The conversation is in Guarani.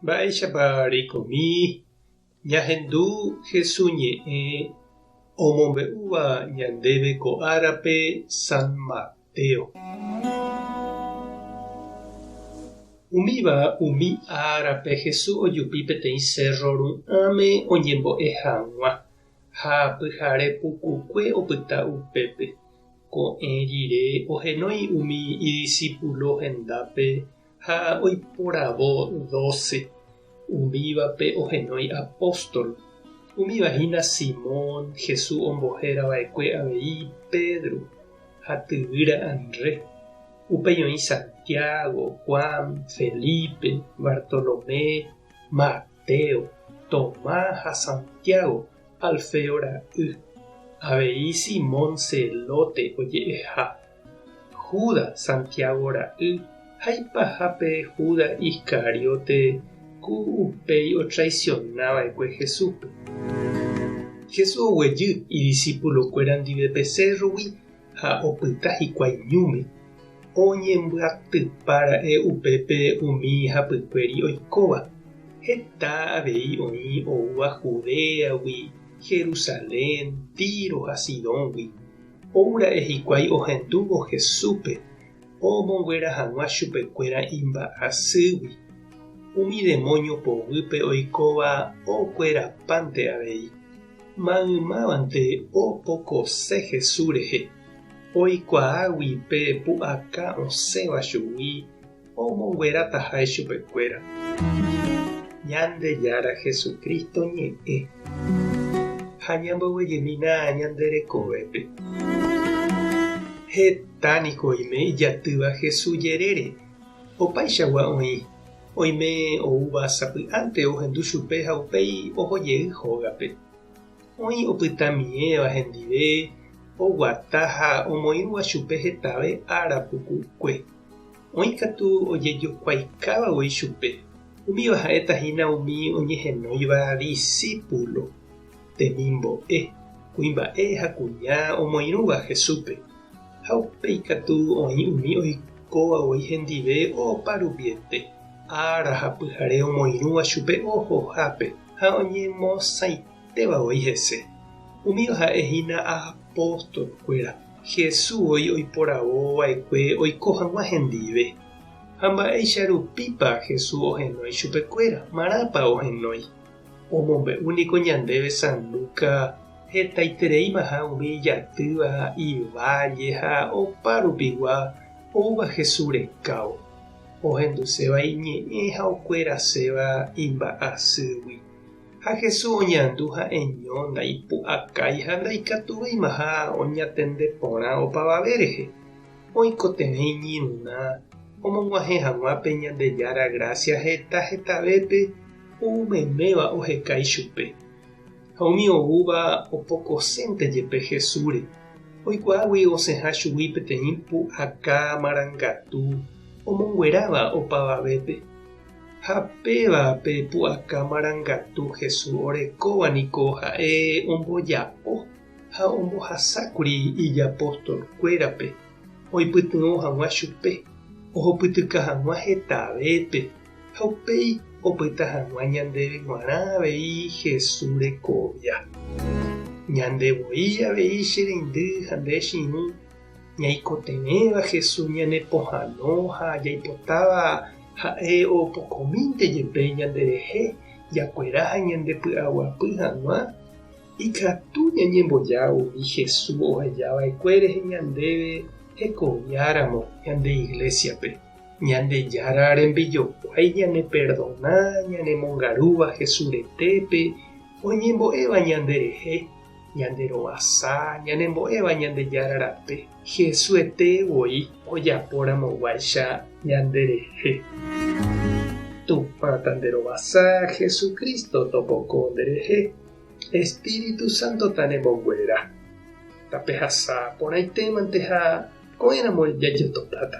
Mba'éichapa reikomi ñahendu Jesús ñe'ẽ omombe'úva ñandéve ko árape San Mateo. Umíva umi árape Jesús ojupi peteĩ sérro ru'ãme oñembo'e hag̃ua, ha pyhare pukukue opyta upépe. Ko'ẽ rire ohenói umi idisipulo hendápe ha oiporavo doce. Umívape ohenói apóstol. Umíva hína Simón, Jesús ombohéra va'ekue avei Pedro ha tyvýra Andrés. Upéi oĩ Santiago, Juan, Felipe, Bartolomé, Mateo, Mateo, Tomás ha Santiago, Alfeo ra'y, avei Simón Zelote oje'eha, Judas, Santiago ra'y, ha ipaha pe Judas Iscariote, ku upéi otraisiona va'ekue Jesúspe. Jesús oguejy idisipulokuéra ndive pe sérrogui ha opyta hikuái ñúme, oñembyatypa ra'e upépe umi hapykuéri oikóva, heta avei oĩ oúva Judéagui, Jerusalén, Tíro ha Sidóngui, ou ra'e hikuái ohendúvo Jesúspe omonguera hag̃ua chupekuéra imba'asýgui, umi demónio poguýpe oikóva okuerapánte avei. Maymávante opokose Jesús rehe, oikuaágui pe pu'aka osẽva chugui, omonguerataha chupekuéra Ñandejára Jesucristo ñe'ẽ ha ñamboguejemína ñande rekovépe. Heta niko oime ijatýva Jesús jerére, opaichagua oĩ Oime oúva sapy'ánte ohendu chupe ha upéi oho jey hógape. Oĩ opytamiẽva hendive oguata ha omoĩrũva chupe hetave ára puku'ykue. Oĩ katu ojejokuaikáva voi chupe, umíva ha'éta hína umi oñehenóiva disípulo. temimbo'e, kuimba'e ha kuña omoirũva Jesúspe, ha upéi katu oĩ umi oikóva voi hendive opa rupiete, ára ha pyhare omoirũva chupe ohohápe ha oñemosãitéva voi hese. Umíva ha'e hína apóstolkuéra, Jesús voi oiporavo va'ekue oiko hag̃ua hendive. Ha mba'éicha rupípa Jesús ohenói chupekuéra? Marãpa ohenói? Omombe'u niko ñandéve San Luca hetaitereimaha umi ijatýva, iválle ha opa rupigua oúva Jesús rekávo, ohenduséva iñe'ẽ ha okueraséva imba'asýgui. Ha Jesús oñandu ha'eño ndaipu'akái ha ndaikatuveimaha oñatende porã opavave rehe. Oikotevẽ iñirũrã omog̃uahẽ hag̃ua pe Ñandejára grásia heta hetavépe, ou meméva oheka ichupe. Ha umi oúva opokosénte jepe Jesúsre, oikuaágui osẽha chugui peteĩ pu'aka marangatu omongueráva opavavépe. Ha péva pe pu'aka marangatu Jesús orekóva niko ha'e omboja'o ha ombohasákuri ijapostolkuérape oipytyvõ hag̃ua chupe ohopytyka hag̃ua hetavépe. ha upéi opyta hag̃ua ñandéve g̃uarã avei Jesús rekovia. Ñande voi avei che reindy ha nde chirũ, ñaikotevẽva Jesús ñanepohãno ha jaipotáva ha'e opokomínte jepe ñanderehe jakuera ha ñandepy'aguapy hag̃ua, ikatu ñañemboja umi Jesús ohejava'ekuére ñandéve hekoviáramo ñande Iglésiape. Ñandejára rembijokuái ñaneperdona ñanemongarúva Jesús retépe, oñembo'éva ñanderehe, ñanderovasa, ñanembo'éva Ñandejára rape, Hesuete voi ojaporamoguáicha ñanderehe. Tupã tanderovasa, Jesucristo topoko nderehe, Espíritu Sántota nemboguera. Tapehasa porãitémante ha Ko'ẽramo jajotopáta.